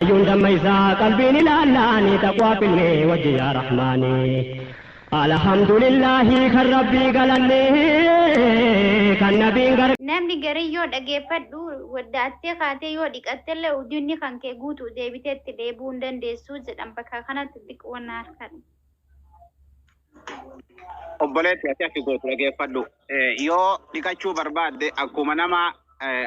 Hayyuun damma isaa qalbiin ilaallaani taqwaa finne wajji yaa rahmaani. Alhamdulillahi kan rabbii galanne kan nabiin gar. Namni garii yoo dhageeffadhu waddaattee kaatee yoo dhiqattellee ujunni kan kee guutu deebitee itti dheebuu hin dandeessu jedhan bakka kanatti xiqqoo na harkadhu. Obboleetti ati akki gootu dhageeffadhu. Yoo dhiqachuu barbaadde akkuma nama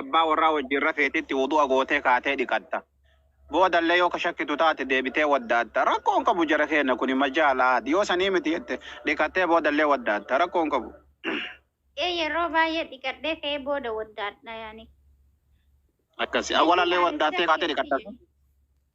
abbaa warraa wajjin rafeetitti wudu'a gootee kaatee dhiqatta. Boodallee yoo ka shakkitu taate deebitee waddaatta. Rakkoon qabu jara keenna kuni majaalaad. Yoo sanii miti jette dhiqattee boodallee waddaatta. Rakkoon qabu. Ee yeroo baay'ee dhiqadhee ka'ee booda waddaadha yaani. Akkasi. Awwalallee waddaattee kaatee dhiqatta.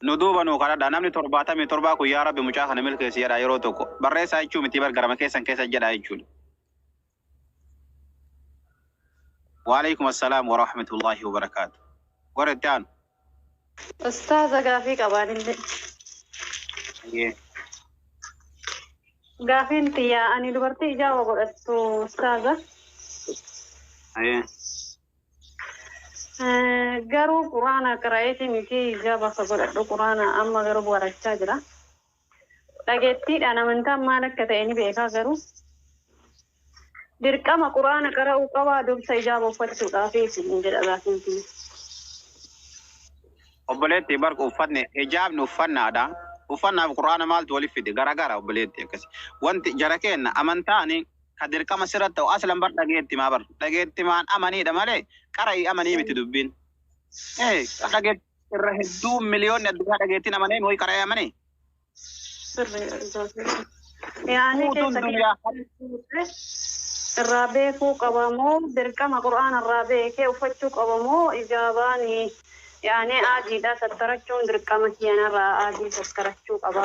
Nu duuba nuu kadhadha. Namni torbaatamii torbaa kun yaa Rabbi mucaa kana milkeessi jedhaa yeroo tokko. Barreessaa jechuu mitii bar garama keessan keessa jedhaa jechuudha. Waaleykum assalaam wa rahmatullahi wa barakaatu. Warri itti aanu. Ustaaza gaafii qabaan inni. Hayyee. Gaafiin tiyyaa ani dubartii ijaaba godhattu ustaaza. Hayyee. Garuu quraana qira'eeti miti hijaaba akka godhadhu quraana amma garuu barachaa jira. Dhageettiidhaan amantaan maal akka ta'e ni beekaa garuu dirqama quraana qara'uu qabaa dursa hijaaba uffachuudhaaf isin jedha gaafiin kiyya. Obboleetti bar uffanne hijaabni uffannaadha. Uffannaaf quraana maaltu waliif fide garagara obboleetti akkasi. Wanti jara keenna amantaani ka dirqama sirratti ta'u aslan bar dhageettimaa bar dhageettimaan amaniidha malee qara'ii amanii miti dubbiin ee ka dhageet irra hedduu miliyoonni addunyaa dhageettiin amanee mooyi qara'ee amanee Sirri Zootii. Yaanii guutuun keessa duniyaa keessa irraa beekuu qaba moo dirqama qur'aana irraa beekee uffachuu qaba moo ijaabaan yaanii aadiidhaa sattarachuun dirqama kiyanarraa aadii sattarachuu qaba.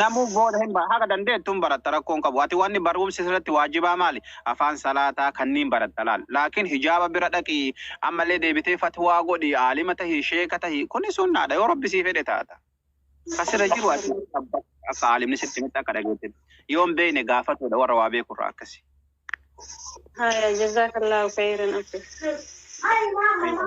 Namuu booda hin bara. Haga dandeettu hin baratta rakkoo hin qabu. Ati wanni barumsi sirratti waajibaa maali? Afaan salaataa kanniin baratta laal. Laakiin hijaaba bira dhaqi, ammallee deebitee fatwaa godhi, aalima tahi, sheeka tahi. Kuni sunnaadha yoo Rabbi sii fedhe taata. Ka sirra jiru ati abba akka aalimni sitti himetti akka dhageettetti. Yoo hin beekne gaafatuudha warra waa beeku irraa akkasi. Haya, jazakallahu khairan abbe. Aywa.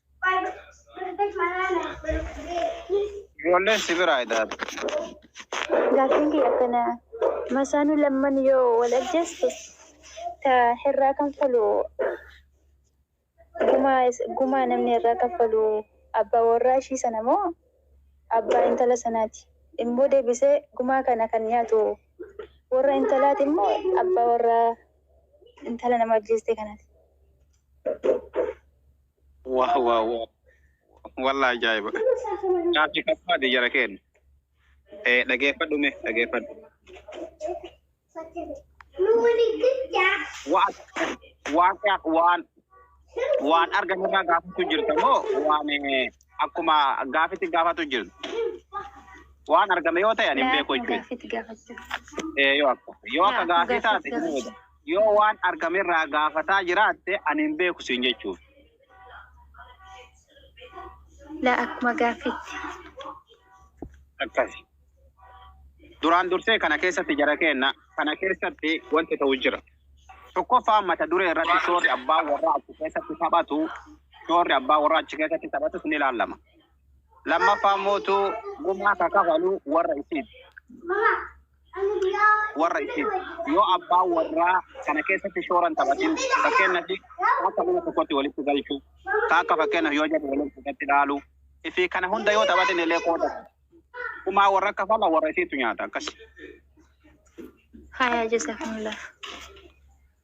Ijoolleen si biraa idaatu. Gaaffiin kiyya akkana. Masaanuu lamman yoo wal ajjeeste ta irraa kanfalu gumaa is- gumaa namni irraa kanfalu abbaa warraa ishii sana moo abbaa intala sanaati? Immoo deebisee gumaa kana kan nyaatu warra intalaati immoo abbaa warraa intala nama ajjeeste kanaati? Wah wah wah. Wallah ajaa'iba. Naafsi qabbaati jara keen. Eh, dhageeffadhu mee dhageeffadhu. Waan waan waan waan argan irraa gaafatu jirta moo waan eh, akkuma gaafitti gaafatu jirta. Waan argame yoo ta'e ani hin beeku jechuudha. Eh, yoo akka yoo akka gaafii taate hin beeku. Yoo waan argame irraa gaafataa jiraatte ani hin beeku siin jechuufi. Laa akkuma gaaffiitti. Akkasi. Duraan dursee kana keessatti jara keenna kana keessatti wanti ta'u jira. Tokkoffaa mata duree irratti shoorri abbaa warraa achi keessatti taphatu shoorri abbaa warraa achi keessatti taphatus ni ilaalama. Lammaffaa mootu gumaa ka kafalu warra isiiti. warra ishee yoo abbaan warraa kana keessatti shooran taphatin fakkeenyaaf akka mana tokkotti walitti galchu ka akka fakkeenyaaf yoo jedhu waliin fudhatti dhaalu fi kana hunda yoo taphatin illee qooda kumaa warra akka fala warra isheetu nyaata akkas. Haya jazakumullah.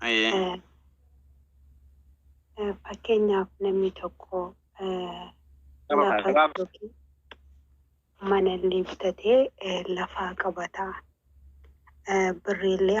Ayyee. Eh, Fakkeenyaaf namni tokko eh, Nama lafa kana gabaabsa. yookiin mana illee bitatee eh, lafaa qabata. Eh, Birrii illee